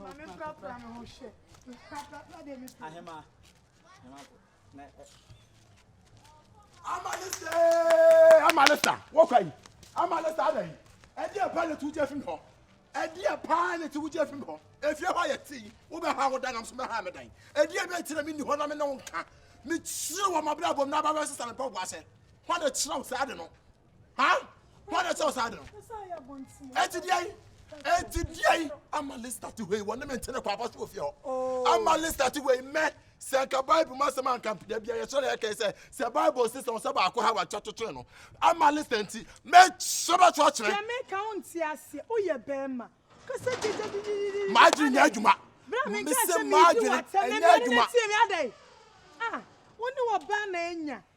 Ahema. Ahema. amalesa wɔkwa yi amalesa ada yi ɛdi ɛpa ne tu gye fi mi hɔ ɛdi ɛpa ne tu gye fi mi hɔ efie hɔ yɛ ti wo bɛ ha wo dan nam so bɛ ha mi dan ɛdi ɛbi ɛkyerɛ mi ni hɔ na mi ne wo nka mi kyerɛ wɔn abira bɔ mu n'aba bɛ sisan mi pɛ wo ase hɔ na kyerɛ wo saa de no. Ha? Hɔ na ɛsɛ ɔsaa de no. Ɛti deɛ yi. Ɛti deɛ yi. Ama lista ti hɔ yi. Wɔne me ntene kɔ abɔ so wɔ fie hɔ. Oh. Ama lista ti hɔ yi mɛ. Sɛ nka Bible mu asɛm anka mpeda bi a yɛsɛ na yɛka sɛ sɛ Bible sɛ sɛ ɔsɛ baako ha wakyɛ kyekyere no. Ama lista nti. Mɛ sɛ bɛto akyerɛ. Sɛ me ka wo nti aseɛ. Woyɛ bɛrima. Kasa gyegye gyegye. Maadwene nyɛ adwuma. Mesɛ maadwene ɛnyɛ adwuma. Ah, wo ne wɔ baa na anya.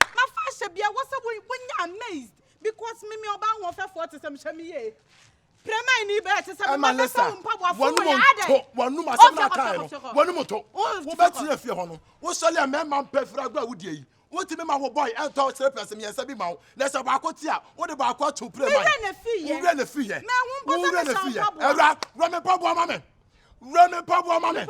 Na fa hyɛ bia wɔ sɛ wo nyɛ amazed because me me ɔbaa hoɔfɛfoɔ te sɛ me hyɛ me yie Prɛmai ni bɛɛ te sɛ me ma bɛsɛ wo mpa boa fo yɛ adɛ Wɔnom asɛm na akaɛ no wɔnom to wo bɛ tena fie hɔ no wo sɔle a mɛma mpɛ firi agorɔ a wo die yi wo ti me ma wo boy ɛntɔ slippers mmiɛnsa bi ma wo na sɛ baako te a wo de baako ato Prɛmai wo wura na fi yɛ wo wura na fi yɛ ɛwura wura me mpa boa ma me wura me mpaboa ma me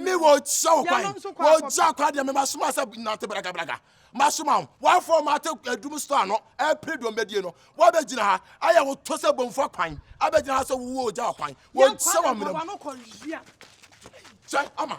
me wɔkyɛ wo kwan wɔgya kwan deɛ memasoma sɛ nante bragabraga masoma wo woafoɔ mate adum so ano ɛpere deɛ ɔmbɛdie no woabɛgyina ha ayɛ wo to sɛ bɔmfoɔ kwan abɛgyina ha sɛ wowɔ ogya kwan wɔkyɛ wɔ mmerɛm kyɛ ama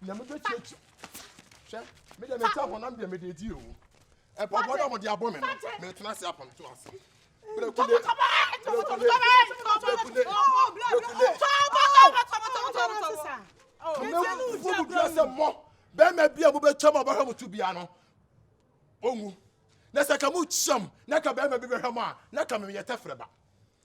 Nea me bɛ tie tie. Hwɛ, me deɛ me ta honam deɛ me deɛ di o. Ɛpɔpɔ na mo de abɔ me no, me tena se apam to ase. Brekule, brekule, brekule, brekule. Kame fo mu dua sɛ mɔ, bɛrima bi a mo bɛ twam a bɛhwɛ mo to bia no, onwu. Na sɛ ka mo kyam, na ka bɛrima bi bɛhwɛ mo a, na ka me yɛ tɛfrɛ ba.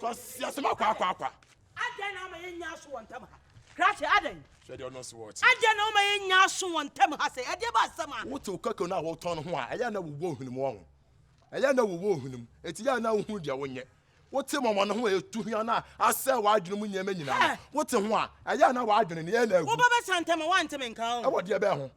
Cause yɛsɛm akwa akwa akwa. Adɛn na ama yɛnya aso wɔ ntam ha? Krakye adɛn? Hwɛ deɛ ɔno nso wɔ ɔkye. Adɛn na ama yɛnya aso wɔ ntam ha sɛ ɛdeɛ ba asɛm a? Wote okeke no a wotɔn no ho a, ɛyɛ a na wowɔ nhunumu wɔ ho. Ɛyɛ a na wowɔ ohunumu, enti ɛyɛ a na wohunu deɛ wonyɛ. Wote mɔmɔ no ho a ɛtu hwa no a asɛe w'adwene mu nneɛma nyinaa no, wote ho a, ɛyɛ a na w'adwene no yɛ na agu. Wo ba bɛsa ntɛm a, woante me nka o. Ɛwɔ deɛ bɛn ho?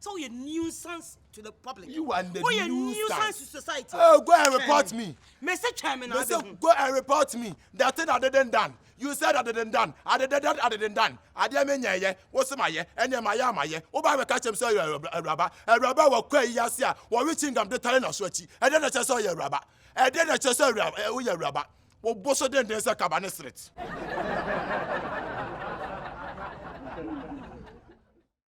Sɛ woyɛ nuisance to the public. You are the woyɛ nuisance to society. Oh, go and report me. Me say twɛn me na abɛ hu. Go and report me. That thing I didn't done. You said I didn't done. I didn't done. I didn't done. Adeɛ me nyɛ yɛ. Wosi ma yɛ. Ɛnneɛ ma yɛ ama yɛ. Woba abɛka kyɛm sɛ ɔyɛ awuraba. Awuraba wɔ kɔ ayi ase a wɔwe chingam de tare n'aso akyi. Ɛdeɛ na kyerɛ sɛ ɔyɛ awuraba. Ɛdeɛ na kyerɛ sɛ woyɛ awuraba. Wobo so denden sɛ kaba ne seret.